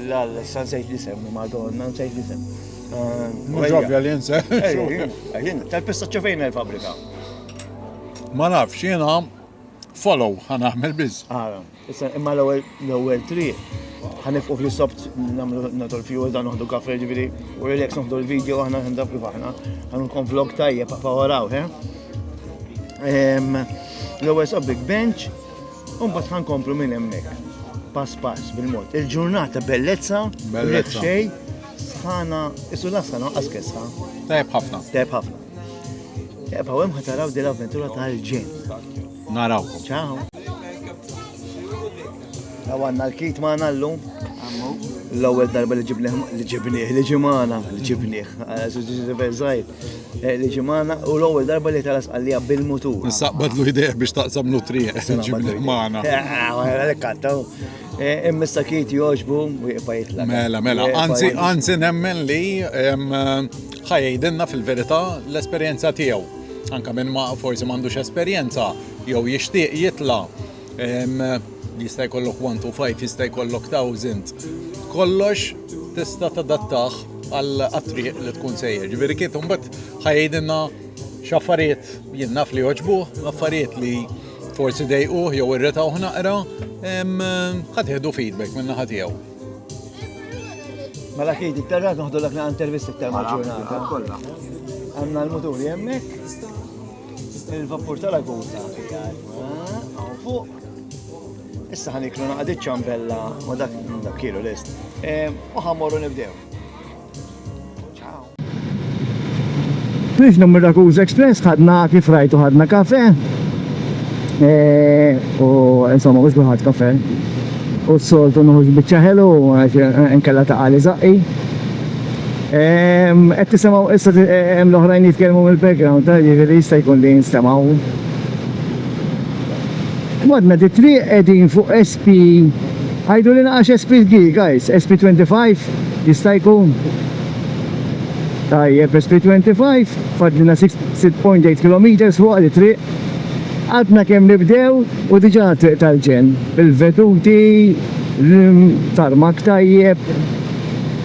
L-San Sejt Lisem, madonna, Sejt Lisem. Mħġobja li jinsa. Tal-pista ċefejna l-fabrika. Ma nafx, jena follow ħan għamil biz. Ah, imma l-ewel tri, ħan ifqu fl-sobt namlu natu l-fju, dan uħdu kafe ġibiri, u relax uħdu l-video, ħana ħan dab kif ħana, ħan nkun vlog tajja, pa' waraw, he? L-ewel sobt big bench, Umbat ħan komplu minn emmek. Pass pass bil-mod. Il-ġurnata bellezza, bellezza. xej, sħana, isu lassa naqqas kessa. Tajb ħafna. Tajb ħafna. Tajb ħawem ħataraw dil-avventura tal-ġen. Naraw. Ciao. Għawanna l-kit ma' nallu. L-ewwel darba li ġibnieh li ġibnieh li ġimana li ġibnieh. Zaħir. Eh, li ġimana u l-ewwel darba li tara sqallija bil-mutur. Nistaqbadlu idea biex taqsam nutri ġimli magħna. Għalek kattaw. Immissa kiet joġbu u jibqa' jitlaq. Mela, mela, anzi, anzi nemmen li ħajjidinna fil-verità l-esperjenza tiegħu. Anka minn ma forsi m'għandux esperjenza jew jixtieq jitla' Jista' jkollok 1 to 5, jista' jkollok 1000. Kollox tista' tadattaħ għal attriq li tkun sejjer. Ġifieri kif imbagħad ħajdinna x'affarijiet jien naf li joġbuh, affarijiet li forsi dejquh jew irritaw naqra, ħadħedu feedback minna naħa tiegħu. Mela kif dik terra noħdu dak intervista iktar ma' ġurnata. Għandna l-muturi hemmhekk. Il-vapur tal-aguta għaw fuq. Issa ħaniklu naqdi ċambella ma dak dak kielu list. U ħammorru nibdew. Ciao. Biex numru Rakuza Express ħadna kif rajtu ħadna kafe. Eh, u insomma, mux bħat kafe. U s-soltu nħuġ bieċa ħelu, nkella ta' għali zaqqi. Qed tisimgħu issa hemm l-oħrajn jitkellmu mill-background, ta' jiġifieri jista' jkun li jinstemaw. Modna di triq qegħdin fuq SP Għajdu li naqax SP G, guys, SP 25 jista' jkun. Tajjeb, SP 25 fadlina 6.8 km fuq li triq. Għadna kemm nibdew u diġà triq tal-ġen. Il-veduti, l-tarmak tajjeb,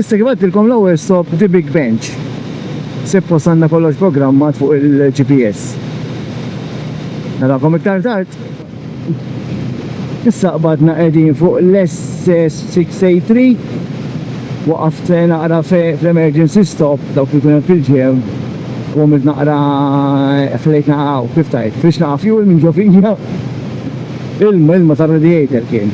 Issa kif għedtilkom l-ewwel stop The Big Bench. Sippost għandna kollox programmat fuq il-GPS. Narakom iktar tard. Issa qbadna qegħdin fuq l-SS683 waqaft eh, naqra fl-emergency stop dawk li kunem fil-ġew u għamilt naqra eh, flejt naqra kif tajt, fiex naqra fuel minn ġofija il-ilma tar-radiator kien.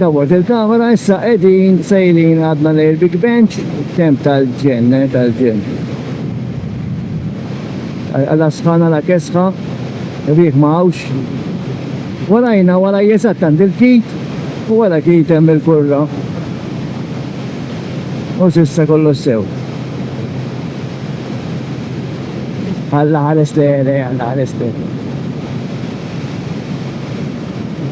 Dawwalt il-kamera, issa qegħdin sejrin għadna lejn il-Big Bench, temp tal-ġenn, eh, tal-ġenn. Għala sħan, għala kesħa, riħ ma hawnx. Warajna, waraj eżatt għand il-kit, u wara kit hemm il-kurra. U s'issa kollox sew. Alla ħares lejn, eh, alla ħares lejn.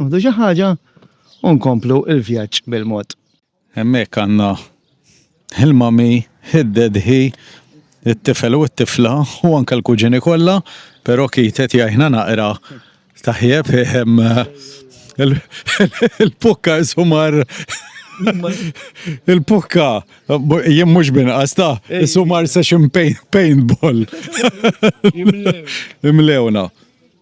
Nieħdu xi ħaġa u nkomplu l-vjaġġ bil-mod. Hemmhekk għandna il-mami, id-dedhi, it-tifel u t-tifla u anke l-kuġini kollha, però Keith qed jgħinna naqra taħjeb il-pukka sumar il-pukka jien mhux binqas ta' sumar session paintball. Imlewna.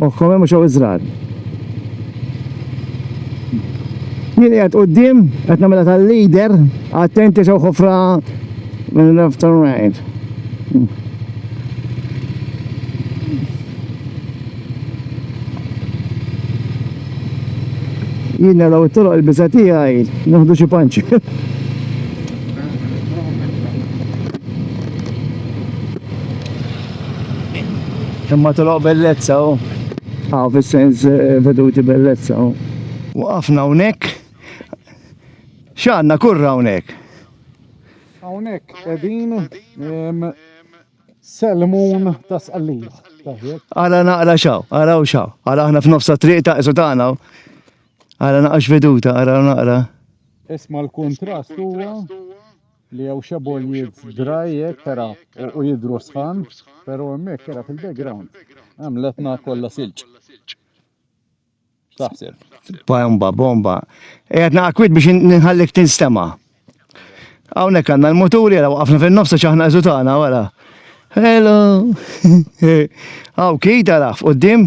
Moħħhom hemm u xew iżrar. Jien qiegħed quddiem qed nagħmilha tal-leader, attenti xew ħofra minn left to right. Jien naraw it-toroq il-biża tiegħi nieħdu xi panċi. Imma toloq bellezza u. Għaw fis-sens eh, veduti bellezza u. Waqafna hawnhekk. X'għandna kurra hawnhekk? Hawnhekk qegħdin selmun ta' sqallija. Ara naqra xaw, ara u xaw. Ara aħna f'nofsa triq ta' isu tagħna. Ara naqra x'veduta, ara naqra. Isma' l-kuntrast huwa li hawn xi boljiet dry hekk ara u jidhru sħan, pero hemmhekk ara fil-background hemm l-etna kollha silġ. X'taħseb? Bomba, bomba. Qiegħed naqa' kwiet biex nħallik tinstema'. Hawnhekk għandna l-muturi ara waqafna fin-nofs għax aħna eżutana wara. Hello! Hawn kid ara f'quddiem.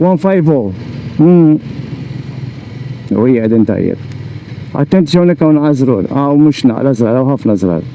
One five oh. Hmm. U hija qegħdin tajjeb. Attenzjoni kawn għażrur, għaw mhux naqra żrar, għaw ħafna żrar.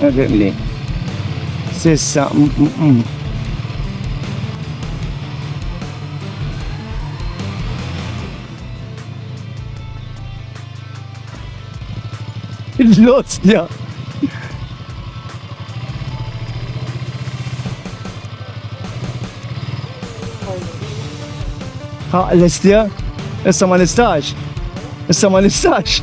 Għadibli. Sissa. L-ostja. Ha, l-istja? Issa ma nistax. Issa ma nistax.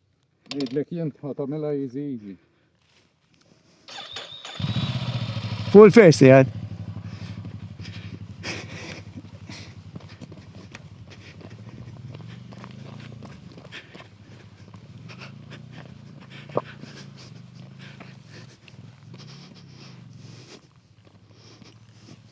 Ngħidlek jien ħa tagħmilha easy easy. Fuq il-first jgħid.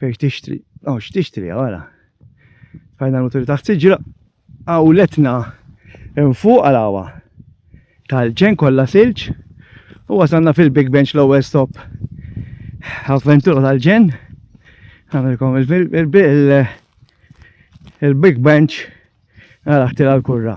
Fejn tixtri, oh x'tixtri għala. Fajna l-muturi taħt siġra, għawletna nfuq għal-għawa. Tal-ġen kollha silġ u wasanna fil-Big Bench l-ewwel stop. Avventura tal-ġen, għamilkom il-Big Bench għal aħtir għal-kurra.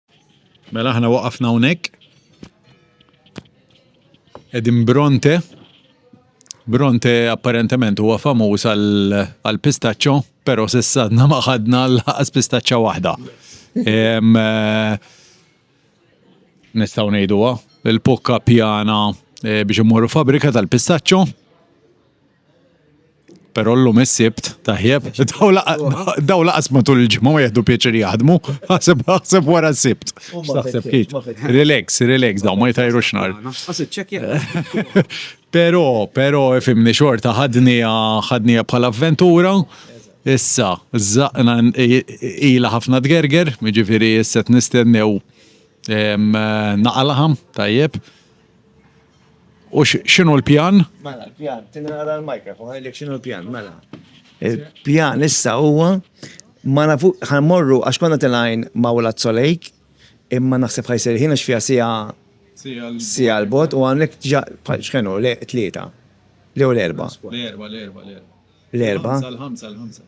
Mela aħna waqafna hawnhekk. Edin Bronte. Bronte apparentement huwa famuż għal pistaċċo, però s'issa għadna ma ħadna l-ħaqas pistaċċa waħda. Eh, nistgħu ngħiduha, il-pukka pjana eh, biex immorru fabrika tal-pistaċċo. Pero l-lum is-sibt, tajjeb, daw laqas matul il-ġimgħa ma jieħdu pieċir jaħdmu, ħaseb ħaseb wara s-sibt. X'taħseb kif? Relax, relax, daw ma jtajru xnar. Pero, pero, fimni xorta ħadni ħadni bħala avventura. Issa, zaqna ila ħafna tgerger, ġifiri issa t-nistennew naqalaħam, tajjeb. U x'inhu l-pjan? Mela, l-pjan, tinara l-microphone, għajdlek x'inhu l-pjan, mela. Il-pjan issa huwa ma nafu ħanmorru għax konna tilgħin ma' Wlad Solejk, imma naħseb ħajsir ħin għax fiha siegħa siegħa l-bogħod u hawnhekk ġa x'ħenu tlieta. Jew l-erbgħa. L-erbgħa, l-erbgħa, l-erbgħa. L-erbgħa. L-ħamsa, l-ħamsa.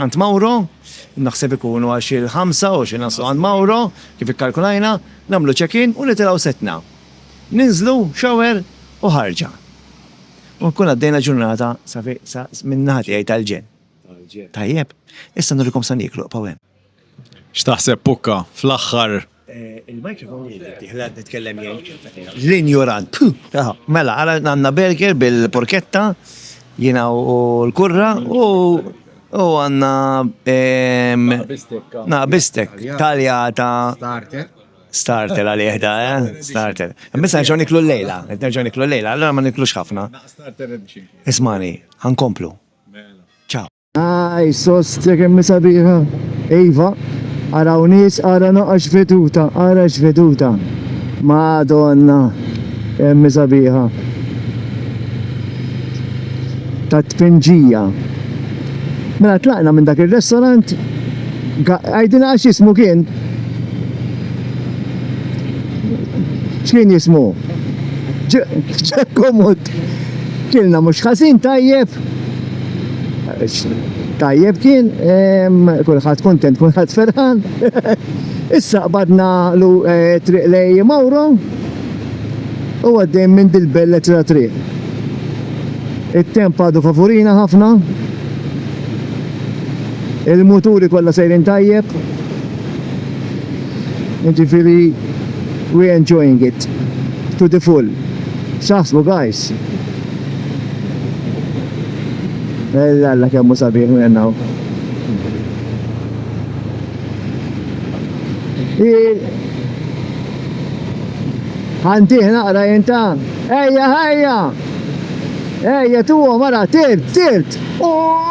Għand Mauro, naħseb ikunu għal xi l-ħamsa u xi naslu għand Mauro, kif ikkalkulajna, nagħmlu check in u nitilgħu setna. Ninżlu, shower u ħarġa. U nkun għaddejna ġurnata safi sa minn naħa tiegħi tal-ġenn. Tajjeb. Issa nurikom sa nieklu, ibqgħu hemm. X'taħseb Pukka, fl-aħħar? Il-microphone li jrid jittieħed qed nitkellem jien. L-injorant. Puh! Mela, ara għandna burger bil-porketta, jiena u l-kurra, u u għandna na bistek taljata. Starter. Starter għalih da, eh? Starter. Biss nerġgħu niklu llejla, qed nerġgħu niklu llejla, allura ma niklux ħafna. Ismagħni, ħa nkomplu. Ciao. Aj, sostja kemm sabiħa. Iva, araw nies, ara naqax veduta, ara x'veduta. Madonna, kemm sabiħa. Ta' tpinġija. Mela tlaqna minn dak ir-restaurant, għajdina għax jismu kien. X'kien jismu? Ġekkomut. Kilna mhux ħażin tajjeb. Tajjeb kien, kulħadd kuntent, kulħadd ferħan. Issa qbadna lu eh, triq lej Mawro u għaddejn minn dil-bellet ta' triq. It-temp għadu favurina ħafna. Il-muturi kollha sejrin tajjeb. Ġifieri we enjoying it to the full. X'taħsbu guys? Ella alla kemm hu sabiħ minn hawn. Għandih naqra jinta. Ejja, ejja! Ejja, tuwa, mara, tirt, tirt! Oh!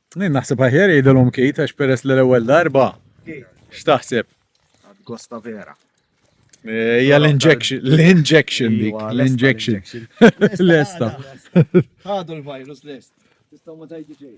Jien naħseb aħjar jgħidilhom kit għax peress li l-ewwel darba. X'taħseb? Gosta vera. Hija l-injection, l-injection dik, l-injection. Lesta. Ħadu l-virus lest. Tistgħu ma tajdi xejn.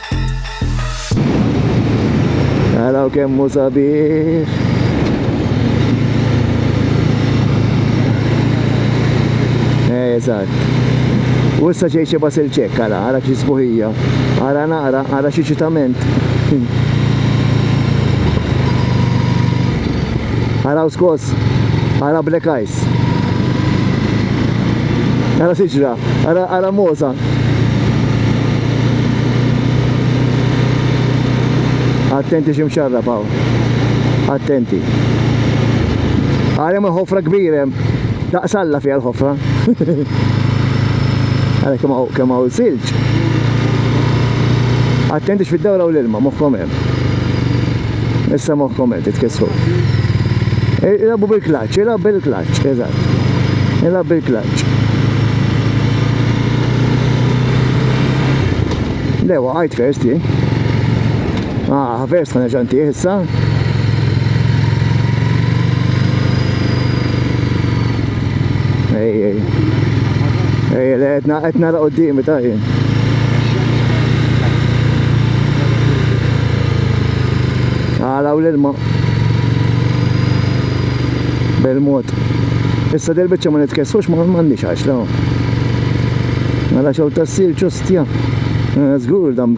Għaraw kemmu sabiħ. Eh, eżatt. U issa ġej xi basil ċek, għara, għara xi sbuħija. Għara naqra, għara xi ċitament. Għaraw skos, għara blekaj. Ħadd. Ara siġra, ara ara moza. Attenti xi mxarra paw. Attenti. Għalem il-ħofra kbirem. Daqsalla fija l-ħofra. Għara kemm hawn silġ. Attenti x'fid-dawra u l-ilma moħħkom Issa moħħkom qed titkissru. Ilabu bil-klaċċ, ilab bil-klaċċ, eżatt. Ilab bil-klaċċ. Lewa, għajt first li. Ah, first ħana ġanti issa. Ej, ej. Ej, le, etna, etna la qoddimi ta' jien. Għalaw l-ilma. Bil-mod. Issa del bicċa ma nitkessux ma m'għandix għax la. Għala xew tassil ċustja. Żgur eh, dam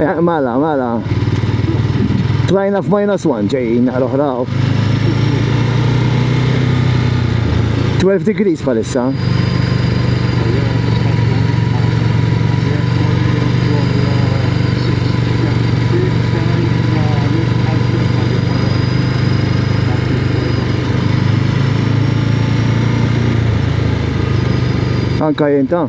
Eh, mala, mala. Tlajna f'minus 1 ġejjin naqra oħra. 12 degrees palissa. Anka jinta.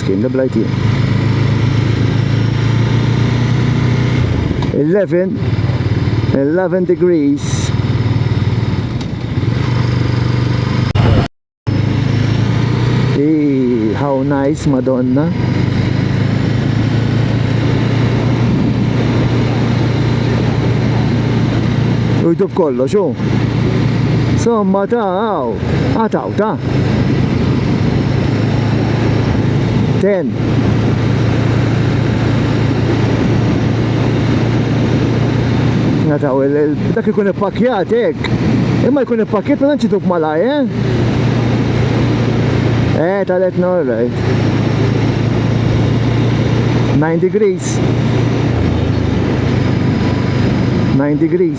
Kien li bl-IT. Eleven, eleven degrees. Eee, how nice, madonna. U jdub kollox, u. Somma ta' għaw, għata Ta. 10 Nataw, dak ikun ippakjat hekk. Imma jkun ippakjat ma nċitu b'malaj, eh? Eh, talet no, right. 9 degrees. 9 degrees.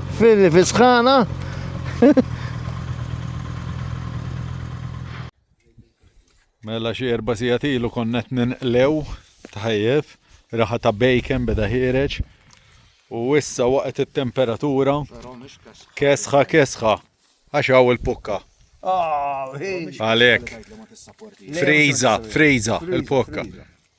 Filli fi sħana. Mela xi erba' sigħat ilu konnet ninqlew tajjeb, raħa ta' bacon beda ħireġ. U issa waqt it-temperatura kesħa kesħa għax hawn il-pukka. Ah, Għalek. Friza, friza, il-pukka.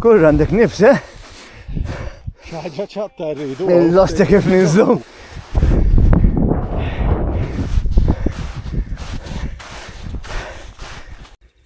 Kurra għandek nifs, eh? ħaġa ċatta rridu. Il-losti kif ninżlu.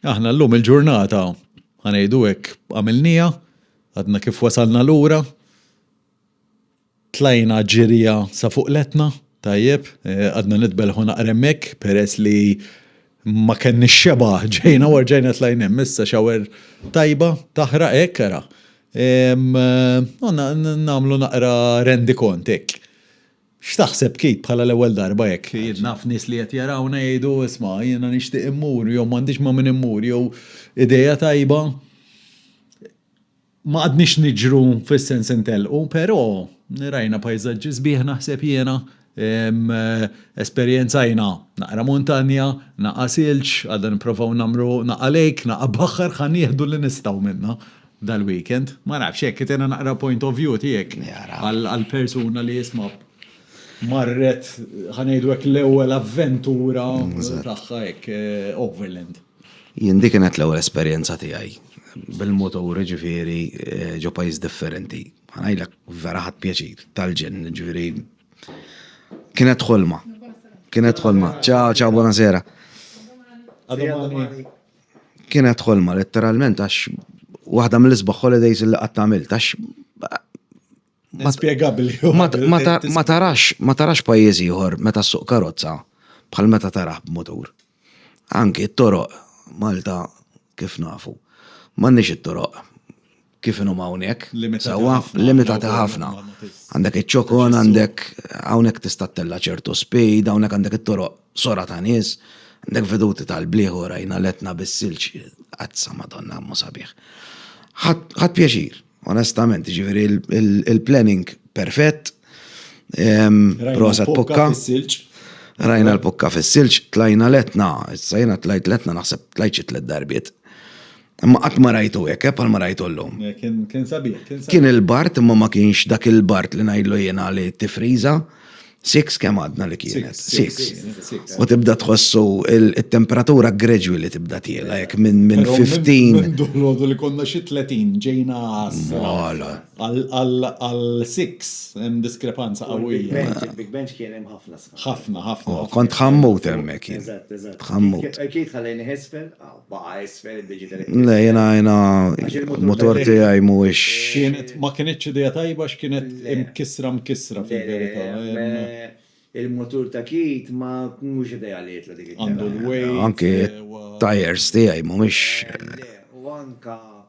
Aħna l-lum il-ġurnata ħanejdu hekk għamilnija, għadna kif wasalna lura, Tlajna ġirja sa fuq l-Etna, tajjeb, qgħadna nitbellħu naqra hemmhekk peress li ma kenniex xebgħa, ġejna u rġajna tlajna hemm. Issa xawer tajba, taħraq hekk ara. Nagħmlu naqra rendikont hekk. X'taħseb Keith bħala l-ewwel darba hekk? Jien naf nies li qed jarawna jgħidu isma' jiena nixtieq immur jew m'għandix ma' min immur jew idea tajba. Ma għadniex niġru fis-sens intellqu, però rajna pajżaġġi sbieħ naħseb jiena, esperjenzajna naqra muntanja, naqgħa silġ, għadna nipprovaw nagħmlu naqgħa lake, naqgħa baħħar, ħa nieħdu li nistgħu minnha dal-weekend. Ma nafx, hekk qed jiena naqra point of view tiegħek għal persuna li isma' marret, ħa ngħidu hekk, l-ewwel avventura tagħha hekk overland. Jien dik kienet l-ewwel esperjenza tiegħi bil-mutur, jiġifieri ġo pajjiż differenti. Ħa ngħidlek vera ħadt pjaċir tal-ġenn, jiġifieri kienet ħolma. Kienet ħolma. Ciao, ciao, buona sera. Kienet ħolma letteralment għax waħda mill-isbaħ holidays li qatt għamilt għax Inspjegabbli. Ma tarax, ma tarax pajjiż ieħor meta suq karozza bħal meta taraħ b'mutur. Anki t-toroq Malta kif nafu. M'għandniex it-toroq kif inhom hawnhekk. Sewwa limitati ħafna. Għandek iċ-ċokon, għandek hawnhekk tista' tella' ċertu speed, hawnhekk għandek it-toroq sora ta' nies, għandek veduti tal-bliħ u rajna l-Etna bis-silġ. Azza Madonna kemm hu sabiħ. Ħadt pjaċir. Onestament, ġifieri il-planning perfett. Prosa pukka. Rajna l-pukka fis-silġ, tlajna letna, issa jiena tlajt letna naħseb tlajt xi tliet darbiet. Imma qatt ma rajtu hekk, eh, bħal ma rajtu llum. Kien sabiħ, kien sabiħ. Kien il-bart imma ma kienx dak il-bart li ngħidlu jiena li tifriża. Six kemm għadna li kienet? Six. U tibda tħossu il-temperatura gradually li tibda tiela, jek minn 15. Minn dolodu li konna xi 30 ġejna għasra. Għal six hemm diskrepanza qawwija. Big bench kien hemm ħafna sħab. Ħafna, ħafna. Kont ħammut hemmhekk. Eżatt, eżatt. Ħammut. Kiet ħallejni ħesfel, aw. Baqa' isfel id-digital imprint. Le, jiena jiena l-mutur tiegħi mhuwiex. Kienet ma kinitx idea tajba għax kienet imkissra mkissra fil-verità. Il-mutur ta' Keith ma mhux ideali tlu dik it-tela. Anke t-tyres tiegħi mhumiex. Le, u anke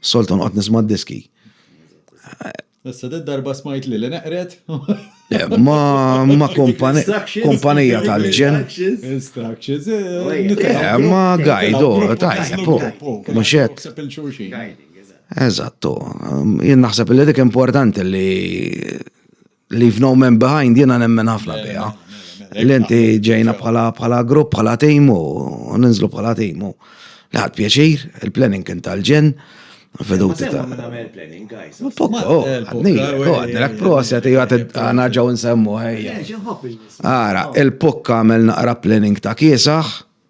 Soltu noqgħod nisma' diski. Issa d darba smajt li li neqret. Eh, ma ma kompanija tal-ġen. Instructions. Eh, eh, ma gajdu, tajja, po. Muxet. Eżattu. Jien naħseb li dik importanti li Leave no man behind, jena nemmen ħafna bija. L-inti ġejna bħala grupp, bħala tejmu, ninżlu bħala tejmu. Laħat pjaċir, il-planning kien tal-ġen, veduti ta' planning, guys. Pokko, oh, għadni, oh, għadni, għak proset, jgħat għana ġaw nsemmu, ħajja. Għara, il-pokka għamel naqra planning ta' kiesaħ,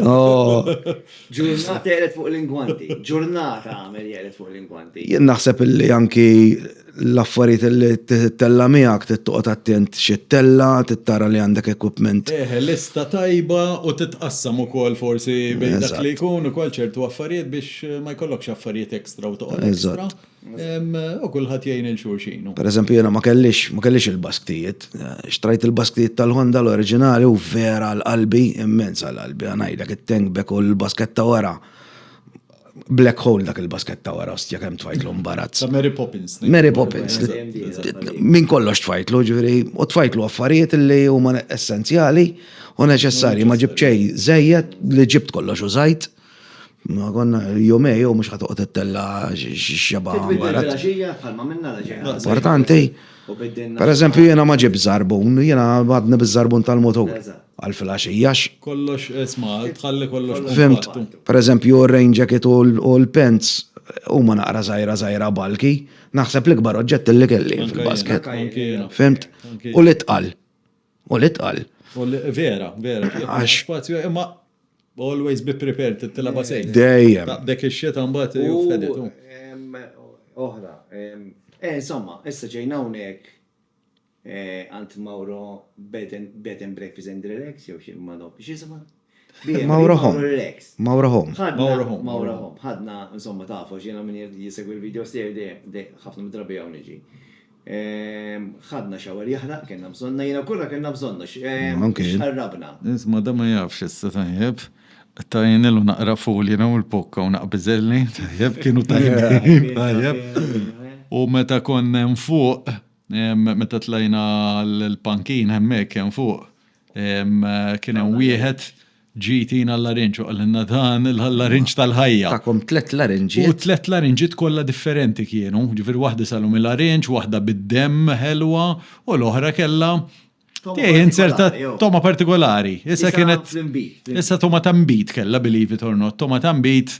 Oh. Ġurnata jgħelet fuq l-ingwanti. Ġurnata għamel jgħelet fuq l-ingwanti. Jien naħseb illi anki l-affarijiet li t-tella miegħek tittoqgħod attent xi tella, tittara li għandek equipment. Eh, lista tajba u titqassam ukoll forsi bejn dak li jkun ukoll ċertu affarijiet biex ma jkollokx affarijiet ekstra u toqgħod ekstra. U kulħadd jgħin il xulxin. Per eżempju, jena ma kellix, ma kellix il-basktijiet. Xtrajt il-basktijiet tal-Honda l-oriġinali u vera l-qalbi, immens għal-qalbi, għanajdlek it-tank bek u l-basketta wara. Black hole dak il-basketta wara, ostja kem tfajtlu mbarazz. Ta' Mary Poppins. Mary Poppins. Min kollox tfajtlu, ġviri, u tfajtlu affarijiet li huma essenzjali u neċessarji, ma ġibċej zejjed li ġibt kollox u zajt. Ma konna jomej jew mhux ħad toqgħod ittella x'xeba. Bil-ġija bħalma minna la ġejna. Importanti. Per eżempju jiena ma ġib żarbun, jiena għadni biż-żarbun tal-motur għal filgħaxija. Kollox isma' tħalli kollox. Fimt, per eżempju r-rain jacket u l-pants huma naqra żgħira żgħira bulky, naħseb l-ikbar oġġett li kelli fil-basket. Fimt? U l-itqal. U li tqal. U li vera, vera. Għax spazju imma always be prepared tilaba sejn. Dejjem. Dek ix-xita mbagħad jufħeditu. Oħra. Eh, insomma, issa ġejna hawnhekk għand Mauro bed and breakfast and relax jew xi ma nofx. X'isima? Mauro Home. Mauro Home. Mauro Home. Mauro Home. Ħadna, insomma, tafu, ġena minn jisegwi l-videos tiegħi dej, ħafna midrabi għaw niġi. Ehm, ħadna xawer jahra, kena bżonna, jena kurra kena bżonna, ehm, xarrabna. Isma, da ma jafx issa tajjeb, tajnilu naqra ful jena u l-pokka u naqbizelli, tajjeb, kienu tajjeb, tajjeb. U meta konna fuq, Meta tlajna l-pankin hemmhekk hemm fuq, kien hemm wieħed ġie jtina l-larinġ u qalilna dan il-larinġ tal-ħajja. Takom tliet larinġiet. U tliet larinġiet kollha differenti kienu, ġifieri waħda salum il-larinġ, waħda bid-demm ħelwa u l-oħra kellha Tiegħi inserta toma partikolari. Issa kienet. Issa toma ta' mbit kella believe it or not, toma ta' mbit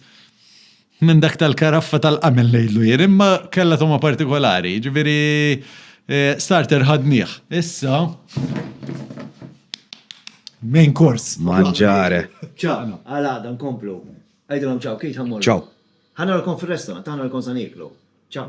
minn dak tal-karaffa tal-qamel ngħidlu jien, imma kella toma partikolari, ġifieri eh, starter ħadnieh. Issa main course. Manġare. Ċaqna. Għal għada nkomplu. Għajdilhom ċaw, kif ħammur. Ċaw. Ħanarkom fir-restaurant, ħanarkom sa niklu. Ċaw.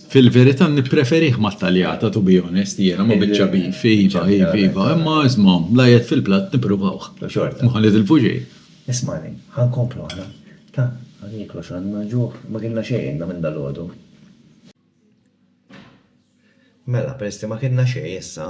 Fil-verità nippreferih mat-taljata to be honest jiena ma' biċċa beef, iva, iva, iva, imma isma' la jedd fil-platt nippruvawh. Ma nitilfu xejn. Ismagħni, ħa nkomplu aħna. Ta, ħa nieklu għax għandna l-ġuħ, ma kilna xejn inna minn dalgħodu. Mela, peress li ma kilna xejn issa,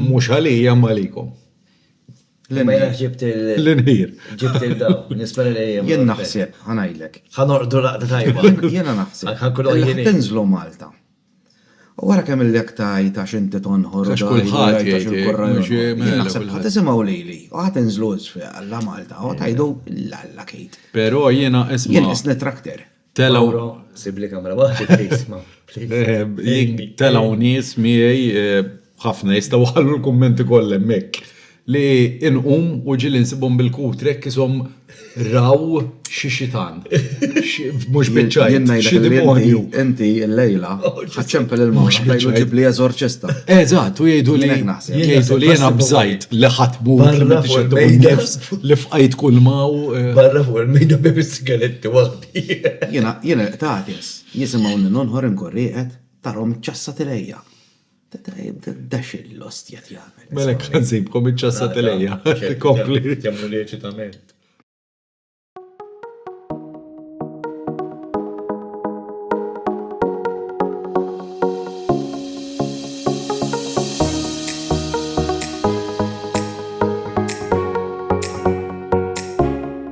Mhux għalija imma għalikom. L-inħir. Ġibt il- L-inħir. Ġibt il-daw. Nispera li hija. Jien naħseb, ħanajlek. Ħanorqdu laqda tajba. Jiena naħseb. Għal ħankunu għajjini. Tinżlu Malta. U wara kemm il-lek tajt għax inti tonħor. Għax kulħadd jgħid il-kurra. Naħseb ħadd isimgħu lili. U ħadd inżlu isfel għalla Malta. U tajdu l-alla kejt. Però jiena isma'. Jien isni trakter. Telaw. Sibli kamra waħda please, ma. Eh, telaw nies miegħi eh, ħafna jistgħu ħallu l-kummenti kollha hemmhekk li inqum u ġili nsibhom bil-kutrek kisom raw xi xitan. Mhux biċċaj. Jenna xi demonju. Inti l-lejla oh, ħaċċempel il-mawx ħajlu ġib li eżorċista. Eżatt, u jgħidu li jgħidu li jiena bżajt li ħatmu li fqajt kull maw. Eh. Barra fuq il-mejda bibis Gelitti waħdi. Jiena, jiena riqt għakes, jisimgħuni nonħor inkun rieqed, tarhom iċċassat ilejja. Dax l-ostja li jagħmel. Mela hekk ħa nsibkom iċċassat ilejja. Kompli. Jemmnu li eċitament.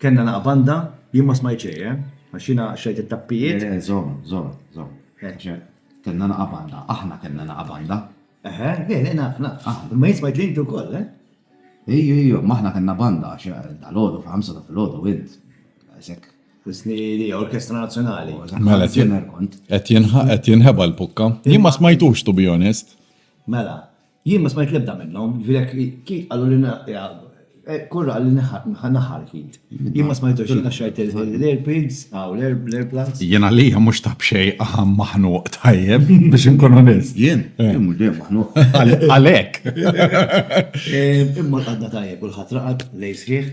Kellna laqgħa banda, jien ma smajt xejn, eh? Għax jiena xrajt it-tappijiet. Le, le, żomm, żomm, żomm. Għax kellna laqgħa banda, aħna kellna laqgħa banda. Eħe, le, le, naf, naf. Imma jien smajt li inti wkoll, eh? Ejju, ejju, imma aħna kellna banda għax dalgħodu fil-ħamsa ta' filgħodu int. Isek. Isni li Orkestra Nazzjonali. Mela, qed jien- Kont. qed jinħ- qed jinħeba l-pukka. Jien ma smajtux, to be honest. Mela, Jien ma smajt l-ebda minnhom, jiġifieri jekk Keith qallu li Corr qal li naħar Keith. Jien ma smajthux jien għax rajt l-earpids, hawn l-airplugs. Jien għalija mhux ta' b'xejn qagħam maħnuq tajjeb biex inkun onest. Jien? Jien mhux dejjem maħnuq. Għalhekk. Imma qgħadna tajjeb, kulħadd raqad lejl sħiħ.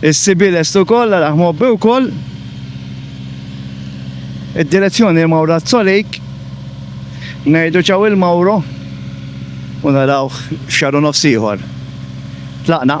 Is-CB lest ukoll, araħ mgħobbi wkoll. Id-direzzjoni hi Mawrazzo Lake. Ngħidu ċaw il Mawro u narawh f'xahar u nofs ieħor. Tlaqna.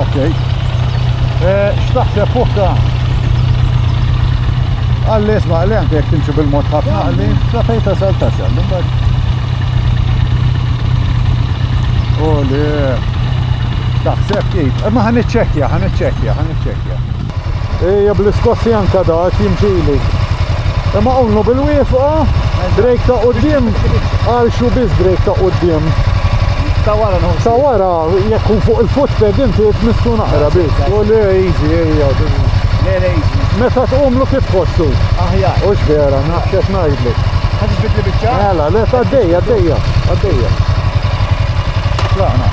Okej. Eh, x'taħseb fuqha? Għalli isma' li anke jekk timxi bil-mod ħafna għalli sa fejn tasal tasal. U li taħseb kif. Ma ħan iċċekkja, ħan iċċekkja, ħan iċċekkja. Ejja bl-iskossi anka dak jimxili. Imma unnu bil-wifqa, Drake ta' qoddim, għal xu biz Drake ta' qoddim. Ta' wara nħu. Ta' wara, jekk kun fuq il-footpad inti tmissu naqra biz. U le, easy, ejja. Le, le, easy. Meta tqumlu kif tħossu? Aħjar. U x'vera, naħseb ngħidlu. Ħadd tbidli biċċa? Mela, le għaddejja, għaddejja, għaddejja. Tlaqna.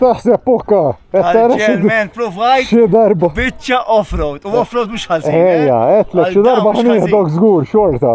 X'taħseb pukka? Ġermen provajt xi darba. Biċċa off-road. U off-road mhux ħażin. Ejja, eh? qed xi darba ħnieħdok żgur xorta.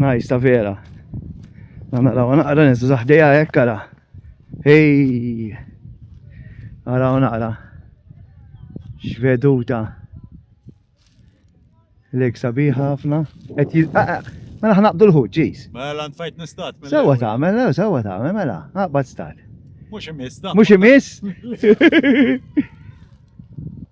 Nice ta' vera. Naraw naqra nizu zaħdeja hekk ara. Ej! Naraw naqra. X'veduta. Lek sabiħa ħafna. Qed jil ah, ah, Mela ħnaqdu l-ħut, ġis. Mela ntfajt nistat. mela. Sewa tagħmel, lew, sewa tagħmel, mela. Aqbad stat. Mhux imiss da. Mhux imiss?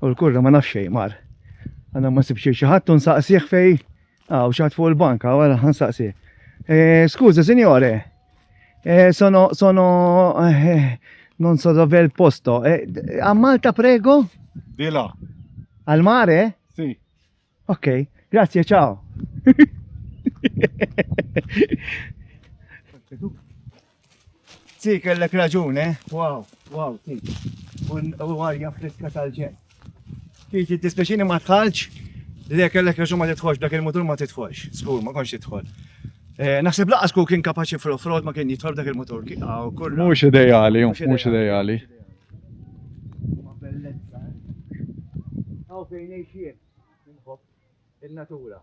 U l-kurra ma nafx xejn mar. Għanna ma sibx xi ħadd u nsaqsih fej. Aw xi ħadd fuq il-banka wara nsaqsih. Eh, Skuża, sinjore. Eh, sono sono eh, non so dove il posto. A Malta prego? Dila. Al mare? Si. Ok, grazie, ciao. Ti kellek raġun, eh? Wow, wow, ti. U għarja friska tal-ġen. Ti ti tispeċini ma tħalġ, li kellek raġun ma titħolx, dak il-mutur ma titħolx. Skur, ma konx titħol. Eh, naħseb laqas ku kien kapaċi fl-offroad ma kien jitħol dak il-mutur. Mux ideali, mux ideali. Huma bellezza, eh? Hawn fejn ngħix jien, inħobb in-natura.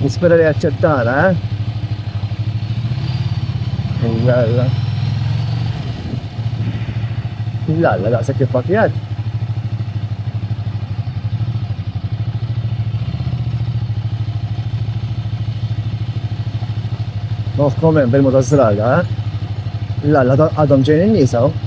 Nispera li jaċċettana, eh? Jalla. Jalla, daqsa kif pakjat. Nof komen bil-mod għazzraga, eh? Jalla, għadhom ġejn il-nisaw. Oh.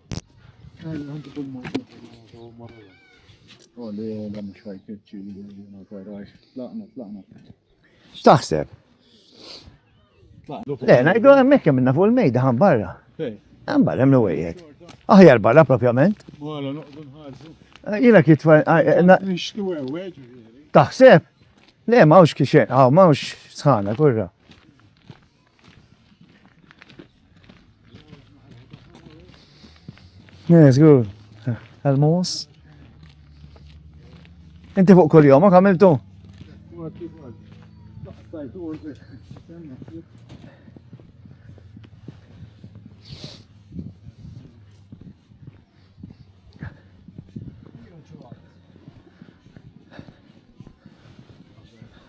X'taħseb? Le, ngħidu hemmhekk hemm minna fuq il-mejda ħan barra. Ħan barra hemm l-wejjed. Aħjar barra propjament. Jiena kitfa. Taħseb? Le, mawx kixen, għaw mawx sħana kurra. Yes, good. Għal-mus. Inti fuq kol jom, għamiltu?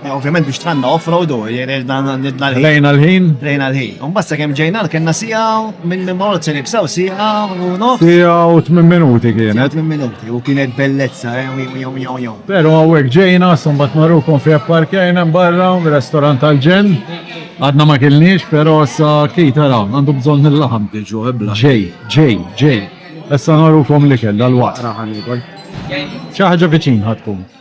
Eh, ovvjament biex tħanna off-road u jirel dan nidna l-ħin. Lejna l-ħin. Lejna l-ħin. Un basta kem ġejna l-kenna sija minn minn marot se nibsaw sija u nof. Sija u 8 minuti kienet. 8 minuti u kienet bellezza, eh, jom jom jom jom. Pero għawek ġejna, sumbat marru kon fi parkejna barra, restorant tal-ġen. Għadna ma kilniex, pero sa kita ra, għandu bżon il-laħam. Ġu ebla. Ġej, ġej, ġej. Essa naru kom li kella l-waqt. Ċaħġa viċin ħatkun.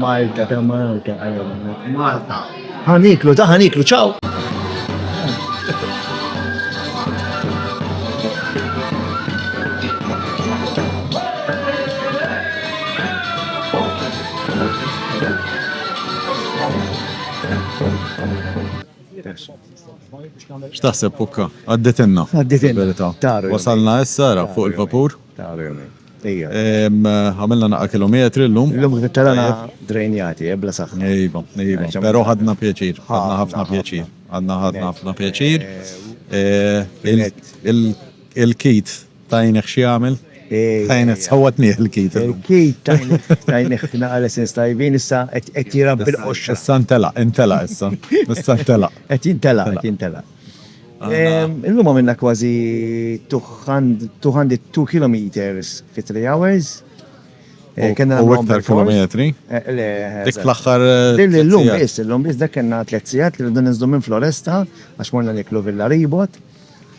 Malta ta' Malta għalina. Malta. Ħaniklu ta' ħaniklu, ċaw! X'taħseb pukka? Għadditinna. Għadditinna. Wasalna issa fuq il-vapur. Għamilna naqra kilometri llum. Llum tlaqna drejnjati, bla saħħa. Iva, iva. Però ħadna pjaċir. Ħadna ħafna pjaċir. Ħadna ħafna pjaċir. Il-kit tajnih xi jagħmel? Tajnih sawwatni l-kit. Il-kit tajnih naqra l-essens tajbin issa qed jirabbi l-qoxra. Issa ntelaq, intelaq issa. Issa ntelaq. Qed jintelaq, qed jintelaq. Ehm, illum għamilna kważi 202 km fi 3 hours. Eh, kena u iktar kilometri. Eh, le, dik fl-axħar. Eh, illum biss, illum biss dak kena 3 sigħat li rridu nizdu minn Floresta għax morna niklu Villa Ribot.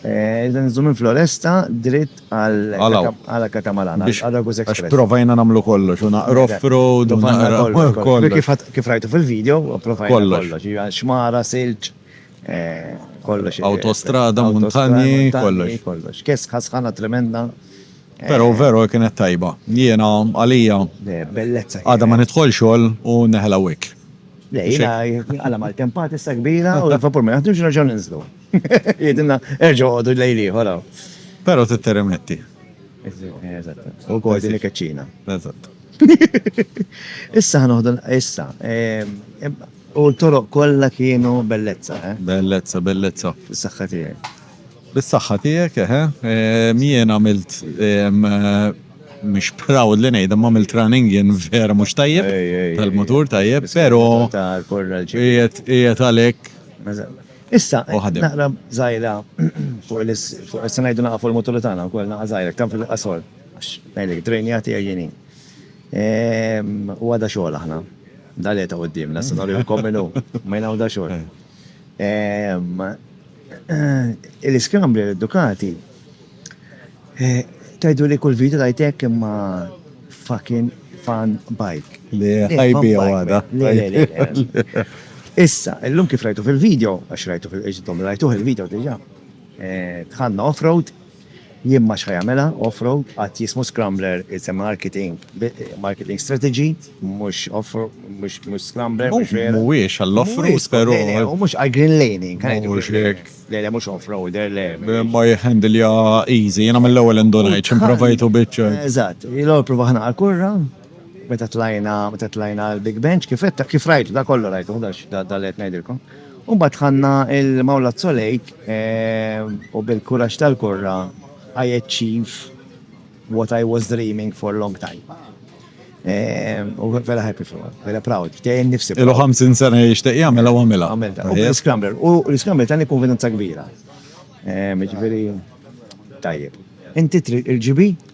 Iżda nizdu minn Floresta dritt għal Katamalana, għal Agus Express. Għax provajna namlu kollox, u naqra off-road, u naqra kollox. Kif rajtu fil-video, provajna kollox. Xmara, silġ. Kollox. Awtostrada, muntanji, kollox. Kollox. Kesħa sħana tremenda. Pero vero kienet tajba. Jiena għalija. Bellezza. Għada ma nidħol xogħol u neħla wik. Lejna, għala mal-tempat issa kbira u l-vapur ma jaħdux raġaw ninżlu. Jidinna erġgħu għodu lejli, ħola. Pero titteremetti. Eżatt. U kol din keċċina. Eżatt. Issa ħanoħdu issa. U l-toroq kollha kienu bellezza, eh? Bellezza, bellezza. Bis-saħħa tiegħi. Bis-saħħa tiegħek, eħe. Ehm, jien għamilt, ehm, mhux proud li ngħid, imma għamilt running jien vera mhux tajjeb, tal-mutur tajjeb, però qiegħed għalhekk. Issa, naqra żgħira fuq is-sena ngħidu naqa' fuq il-mutur tagħna wkoll naqa' żgħira, kemm fil-qasor, għax ngħidlek, trejnija tiegħi jien. U għada xogħol aħna. Da li ta' quddiem, nasa nagħmlu l kominu, ma jnaw da xogħol. Il-iskambri l-edukati, tajdu li kull video tajtek imma fucking fan bike. Li ħajbi għada. Issa, l-lum kif rajtu fil-video, għax rajtu fil-video, rajtu fil-video diġa, tħanna off-road, Jien ma x'ħa jagħmilha off road, għad jismu scrambler it's a marketing marketing strategy mhux off mhux mhux scrambler mhux vera. Mhuwiex għall off road però. Le le u mhux għal green laning ħa ngħidu green laning. Le le mhux off roader le. Imma jihhandilja easy jiena mill-ewwel indunajt x'improvajtu biċ-ċ. Eżatt. L-ewwel pruvaħ nagħha l-kurra. meta tlajna, meta tlajna l-Big Bench, kif qed kif rajtu, da kollu rajtu, da li qed ngħidilkom. U mbagħad ħanna il-Mawla Zolejk eh, u bil-kuraġġ tal-kurra I achieve what I was dreaming for a long time. Eh, u vera happy for it, vera proud, tejn nifsi. Ilu 50 sena jishtiq jagħmel u għamilha. Għamilha. U l-scrambler, u l-scrambler tani konfidenza kbira. Eh, Ġifieri tajjeb. Inti il-ġibi?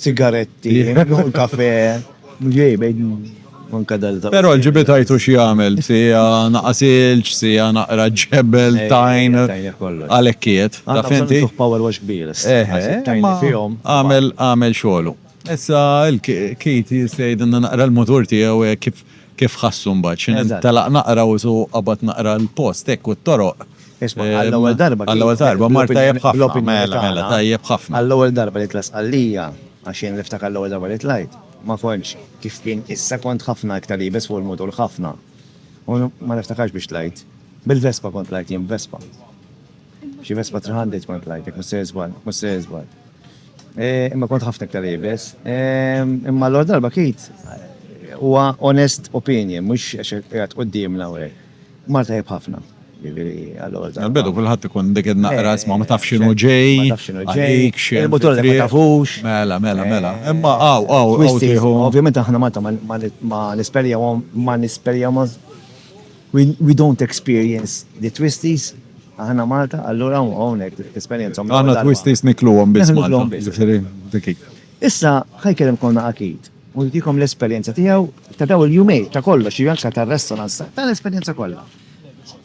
sigaretti, kafe, mġej bejn manka dal Pero l-ġibit għajtu xie għamil, sija naqas ilċ, sija naqra ġebel, eh, tajn, għalekkiet. Ta' fenti? Power wash kbir. Eh, għamil, għamil xolu. Issa il-kit jistajd naqra l-motor tijaw eh, kif kif ħassu mbagħad x'in talaq naqra u su qabad naqra l-post hekk u t-toroq Isma', għall-ewwel darba. Għall-ewwel darba, mar tajjeb ħafna. Mela, mela, tajjeb ħafna. Għall-ewwel darba li tlajt Sqallija, għax jien niftakar l-ewwel darba li tlajt, ma kontx kif kien issa, kont ħafna iktar iebes fuq il-mutur, ħafna. U ma niftakarx biex tlajt. Bil-Vespa kont tlajt jien, b'Vespa. Xi Vespa 300 kont tlajt, jekk mhux se niżball, mhux se niżball. Imma kont ħafna iktar iebes. Imma l-ewwel darba Keith huwa honest opinion, mhux għax qiegħed quddiemna u hekk. Mar tajjeb ħafna. Jiġifieri allura żgħar. Għall-bidu kulħadd ikun dik in-naqra isma' ma tafx x'inhu ġej. Ma tafx x'inhu ġej. Għalik x'hemm. Il-mutur li ma tafux. Mela, mela, mela. Imma hawn, hawn, hawn tieħu. Ovvjament aħna Malta ma nisperjawhom, ma nisperjawhom. We don't experience the twisties. Aħna Malta, allura hawnhekk tesperjenzahom. Aħna twisties nikluhom biss Malta. Nikluhom biss. Issa, ħa jkellem konna akid. u jtikom l-esperjenza tiegħu ta' dawn il-jumejn ta' kollox, jiġifieri anke tar-restaurants, ta' l-esperjenza kollha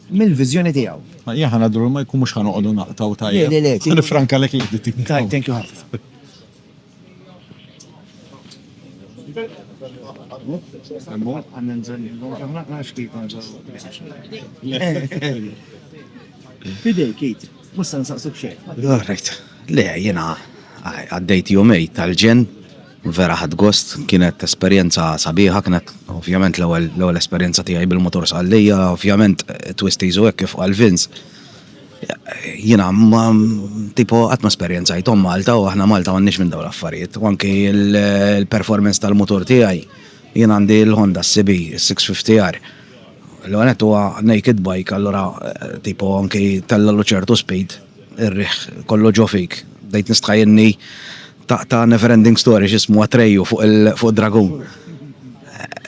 mill-viżjoni tiegħu. Ma jekk ħa ngħaddu lura Michael mhux ħa noqogħdu naqtgħu tajjeb. Le, le, le. Ħa nifrankalek l-editing. Tajjeb, thank you ħafna. Fidejk, Keith. Mhux se nsaqsuk xejn. All right. Le, jiena għaddejt jumejn tal-ġenn Vera ħadt gost, kienet esperjenza sabiħa, kienet ovvjament l-ewwel l-ewwel esperjenza tiegħi bil-motor sqallija, ovvjament twisties u hekk kif qal Vince. Jiena ma tipo qatt ma esperjenzajthom Malta u aħna Malta m'għandniex minn dawn l-affarijiet. U anki l-performance tal-motor tiegħi jien għandi l-Honda CB 650R. L-ewwel nett huwa naked bike allura tipo anki tella' ċertu speed ir-riħ kollu ġo fik. Bdejt nistħajjilni Ta' never ending story x'ismu Atreju fuq id-dragun.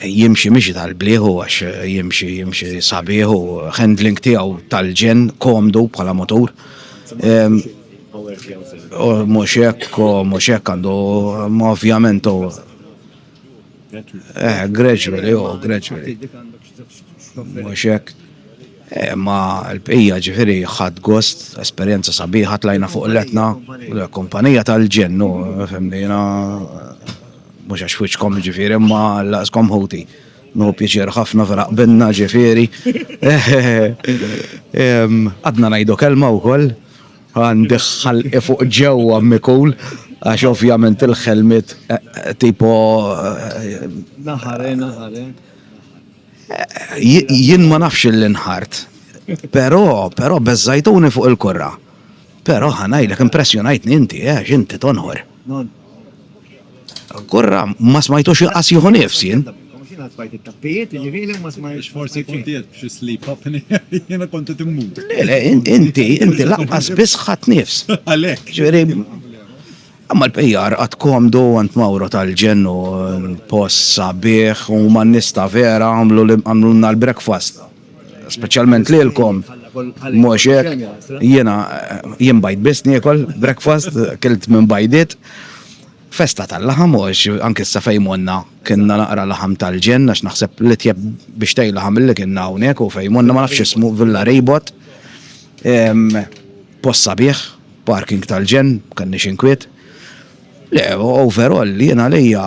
Jimxi mixi tal-blieh u għax jimxi jimxi sabiħ u handling tiegħu tal-ġenn komdu bħala motur. U mhux hekk u mhux hekk għandu ovvjament u eh gradually u gradually. Mhux hekk? Eh, ma l-bqija ġifieri ħadd gost, esperjenza sabiħa tlajna fuq letna, kumpanija tal-ġennu, femmina mhux għax wiċċkom ġifieri ma laqskom ħuti. No pjaċir ħafna vera qbilna ġifieri. Għadna ngħidu kelma wkoll għandi ħalqi fuq ġewwa mikul għax ovvjament il-ħelmit eh, eh, tipo eh, naħare naħare Jien ma nafx li nħart, però, però beżżajtuni fuq il-kurra. Però ħa ngħidlek impressjonajtni inti, għax inti tonħor. Kurra, ma smajtux inqas jieħu nifs jien. Forsi kont qiegħed b'xi sleep apnea, jiena kont qed immut. Le, le, inti, inti lanqas biss ħadt nifs. Għalhekk. Imma l-bqija qgħad komdu għand Mawro tal-Ġenn u post sabiħ u huma n-nies ta' vera għamlulna l-breakfast. Speċjalment lilkom, mhux hekk? Jiena, jien bajt biss niekol breakfast, kilt minn bajdiet. Festa tal-laħam għax anki issa fejn monna kienna naqra laħam tal-Ġenn għax naħseb l-itjeb bixtej laħam li kienna hawnhekk hu fejn monna ma nafx x'ismu Villa Reebot. Post sabiħ, parking tal-ġenn, m'kellniex inkwiet. Le, overall, jien għalija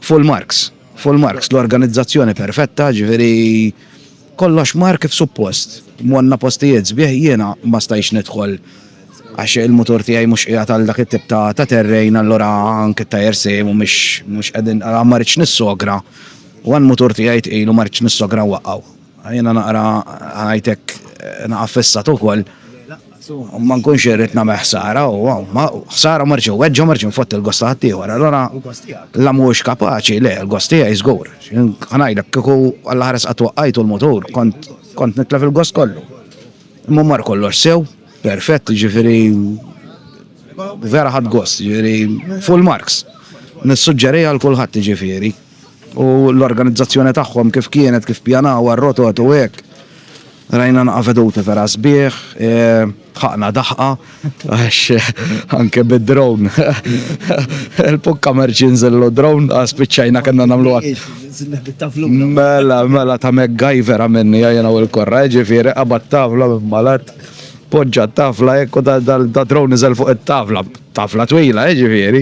full marks. Full marks, l-organizzazzjoni perfetta, ġifieri kollox mar kif suppost. Monna postijiet sbieħ jiena ma stajx nidħol għax il-mutur tiegħi mhux qiegħed għal dak it-tip ta' ta' terrejn allura anke t-tajer sejmu mhux mhux qegħdin ma rridx nissogra u għan mutur tiegħi tqilu ma rridx nissogra waqgħu. Jiena naqra ħajtek naqa' fissat ukoll u ma nkunx irrid nagħmel ħsara u ħsara ma rridx weġġa ma rridx nfott il-gost ta' ħaddieħor. Allora la mhuwiex kapaċi le l-gost tiegħi żgur. Ngħidlek kieku Alla ħares qatt waqqajtu l-mutur kont kont nitlef il-gost kollu. Imma mar kollox sew, perfett, ġifieri vera ħadd gost, ġifieri full marks. Nissuġġeriha għal kulħadd ġifieri. U l-organizzazzjoni tagħhom kif kienet, kif pjanawha r-rotot u hekk. Rajna naqa' veduti vera sbieħ, ħaqna daħqa għax anke bid-drone il-pukka ma rridx jinżillu d-drone għax spiċċajna kellna nagħmluha. Mela, mela ta' MacGyver għamilniha jiena u l-Korra, jiġifieri qabad tavla minn Malett, poġġa t-tavla hekk u da-drone niżel fuq it-tavla, tavla twila jiġifieri,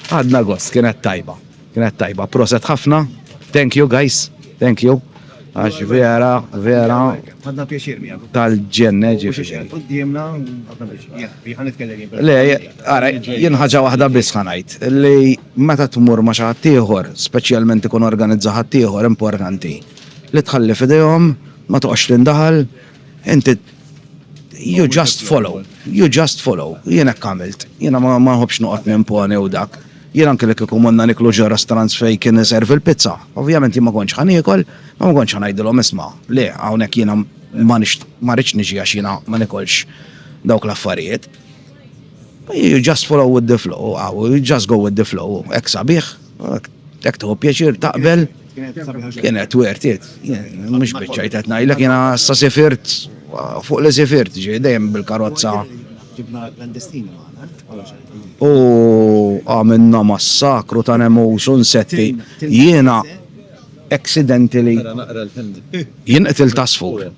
Għadna gost, kienet tajba. Kienet tajba. Proset ħafna. Thank you, guys. Thank you. Għax vera, vera. Għadna pjaċir mi għabu. Tal-ġenne ġifiri. Għaddimna, għadna pjaċir. Le, għara, jenħagġa wahda bisħanajt. Li meta t-mur ma xaħtiħor, specialment ikun organizza ħaddieħor importanti. Li tħalli fidejhom, ma toqgħodx tindaħal, Inti you just follow, you just follow, jien hekk għamilt, jiena ma nħobbx noqgħod nimponi u dak. Jien anke li kieku morna niklu ġo restaurants fejn kien iservi l-pizza, ovvjament jien ma kontx ħa niekol, ma ma kontx ħa ngħidilhom isma', le, hawnhekk jiena ma ma rridx niġi għax jiena ma nikolx dawk l-affarijiet. You just follow with the flow, you just go with the flow, hekk sabiħ. Jekk tħobb pjaċir taqbel. Kienet wertit. Mhux biċċajt qed ngħidlek jiena sa sifirt fuq li sifirt ġej dejjem bil-karozza. U għamilna massakru ta' nemus u nsetti. Jiena accidentally jien qtil tasfur.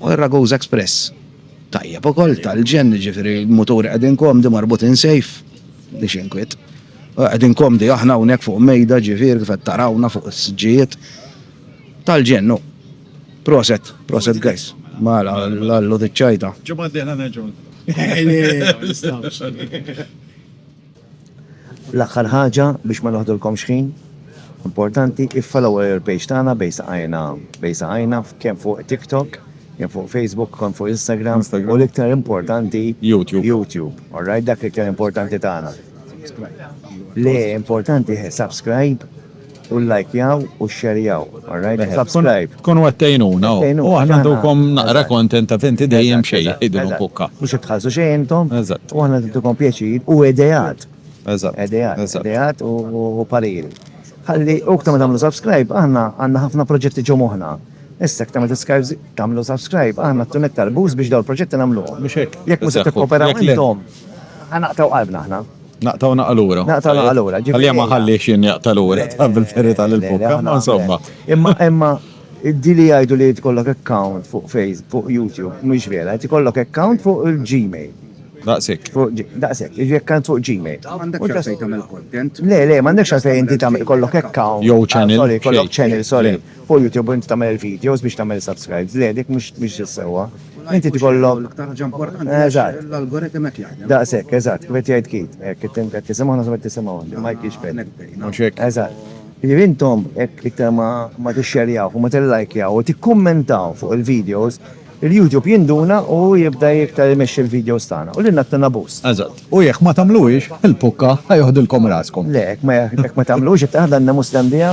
U r-Ragusa Express tajjeb ukoll, tal-ġenn, jiġifieri l-muturi qegħdin komdi marbutin sejf, m'iniex inkwiet. Qegħdin komdi aħna hawnhekk fuq mejda, jiġifieri kif qed tarawna fuq is-siġġijiet. Tal-ġenn hu. Proset, proset guys. Mela, Lallu diċ-ċajta. Ġimgħa d-dieħla nerġgħu. Nistgħux. L-aħħar ħaġa, biex ma noħdulkomx ħin, importanti, iffollowjaw il-page tagħna Bejn Saqajna Bejn Saqajna kemm fuq TikTok, kemm fuq Facebook, kemm fuq Instagram u l-iktar importanti, YouTube. Alright, dak l-iktar importanti tagħna. Le, importanti hi subscribe. U lajkjaw u xxerjaw, alright? U subscribe. Tkunu qed tgħinuna u aħna ntukom naqra content għax inti dejjem xejn jgħidilhom bukka. Mhux qed tħallsu xejn intom. Eżatt. U aħna qed intukom pjaċir u ideat. Eżatt. Ideat. Eżatt. Ideat u pariri. Ħalli u iktar ma tagħmlu subscribe aħna għandna ħafna proġetti ġo moħħna. Issa iktar ma tgħamlu subscribe aħna tkun iktar boost biex dawn il-proġetti nagħmluhom. Mhux hekk? Jekk mhux se tikkooperaw intom. Ħa naqtaw qalbna aħna. Naqtaw naqa lura. Naqtaw naqa lura. Għalli ma ħalli xin jaqta lura, ta' bil-ferita l-bukka, ma insomma. Imma, imma, di li jgħidu li tkollok account fuq Facebook, fuq YouTube, mux vera, tkollok account fuq il-Gmail. Daqsek. Daqsek, iġi account fuq Gmail. Għandek xafej tamil content? Le, le, mandek xafej inti tamil kollok account. Jow channel. Sorry, kollok channel, sorry. Fuq YouTube inti tagħmel il-videos biex tagħmel subscribes, le dik mhux mhix is-sewwa. Inti tkollok L-aktar ħaġa importanti hija Eżatt. xi l-algorithm qed jaħdem. Daqshekk, eżatt, kif qed jgħid Keith, hekk inti qed tisimgħu naħseb qed tisimgħu int, imma hekk jiġifieri. Hawnhekk bdejna. Mhux hekk? Eżatt. Jiġifieri intom hekk iktar ma ma tixxerjawh u ma tillajkjaw u tikkummentaw fuq il-videos, il-YouTube jinduna u jibda iktar imexxi l-videos tagħna u lilna tina boost. Eżatt. U jekk ma tagħmluhiex, il-pukka ħa joħdilkom raskom. Le, hekk ma hekk ma tagħmluhiex qed taħdanna mhux tgħandiha.